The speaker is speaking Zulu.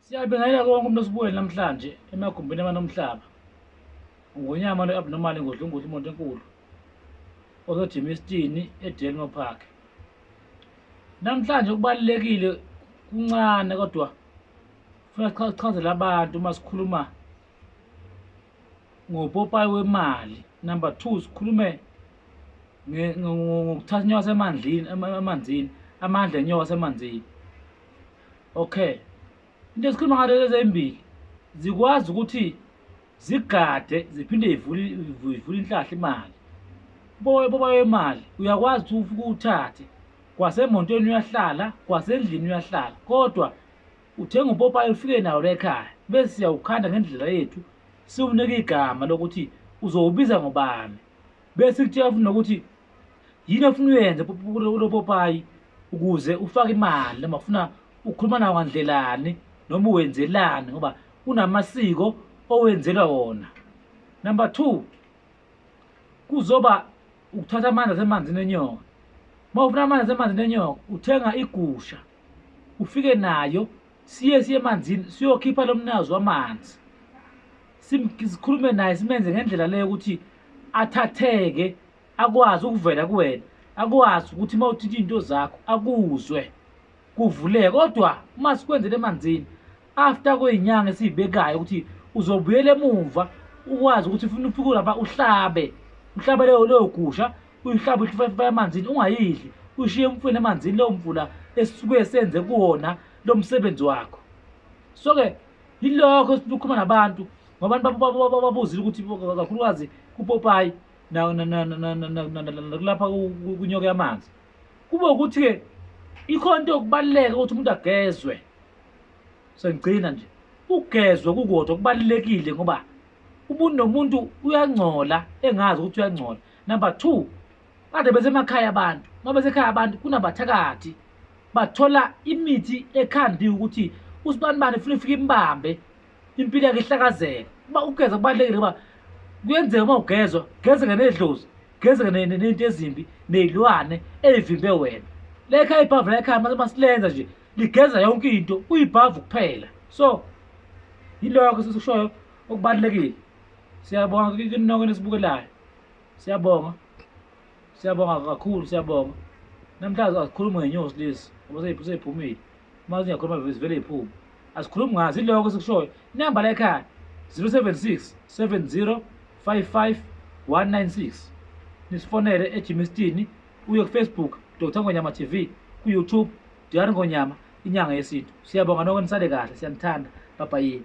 Siyabingelela konke umuntu osibukele namhlanje emagumbini amanomhlaba. Ngonyama lo abnormal ngodlunguthi umuntu enkulu. Ozojima isitini eDelmo Park. Namhlanje kubalekile kuncane kodwa funa sichazele abantu uma sikhuluma ngopopayi wemali. Number 2 sikhulume ngokuthatha inyoka emanzini, emanzini, amandla enyoka emanzini. okay into esikhuluma ngayo lezi ezimbili zikwazi ukuthi zigade ziphinde ivule ivule inhlahla imali boye boba imali uyakwazi ukuthi ufike uthathe kwasemontweni uyahlala kwasendlini uyahlala kodwa uthenga upopayi ufike nawo la ekhaya bese siyawukhanda ngendlela yethu siwunike igama lokuthi uzowubiza ngobani bese kutshela futhi nokuthi yini ofuna uyenze ulopopayi ukuze ufake imali noma ufuna ukhuluma nawo ngandlelani noma uwenzelani ngoba unamasiko owenzelwa wona number two kuzoba ukuthatha amanzi asemanzini enyoka uma ufuna amanzi asemanzini enyoka uthenga igusha ufike nayo siye siye emanzini siyokhipha lo mnikazi wamanzi sikhulume naye simenze ngendlela leyo ukuthi athatheke akwazi ukuvela kuwena akwazi ukuthi uma uthinta iy'nto zakho akuzwe kuvuleke kodwa uma sikwenzele emanzini after kwey'nyanga esiyibekayo ukuthi uzobuyela emumva ukwazi ukuthi ufuna ufike lapha uhlabe uhlabe leyo leyo gusha uyihlaba uhlifayifa emanzini ungayidli ushiye umfweni emanzini leyo mvula esisuke senze kuwona lo msebenzi wakho so-ke yilokho esifuna ukukhuluma nabantu ngoba abantu babuzile ukuthi kakhulukazi kupopayi nakulapha kunyoke amanzi kube ukuthi-ke ikhona into yokubaluleka ukuthi umuntu agezwe sengigcina nje ugezwe kukodwa kubalulekile ngoba umuntu nomuntu uyangcola engazi ukuthi uyangcola Number two, kade besemakhaya abantu uma besekhaya abantu kunabathakathi bathola imithi ekhandiwe ukuthi usibanibani funa ifike imbambe impilo yakhe ihlakazeka uba ugeza kubalulekile uba kuyenzeka uma ugezwa gezeka nedlozi gezeka nento ezimbi neyilwane eyivimbe wena lekhaya ibhavu lekhaya mase masilenza nje ligeza yonke into kuyibhavu kuphela so yiloko sesikushoyo okubalulekile siyabonga kini nonke nisibukelayo siyabonga siyabonga kakhulu siyabonga namhlanje asikhulumi ngenyosi lezi ngoba seyiphumile uma zingakhuluma zivele iy'phume asikhulumi ngazo iloko esikushoyo inamba la ekhaya 076 70 55 196 nisifonele ejimistini uye kufacebook dr ngonyama tv kuyoutube dr ngonyama inyanga yesintu siyabonga nonke nisale kahle siyanithanda babayini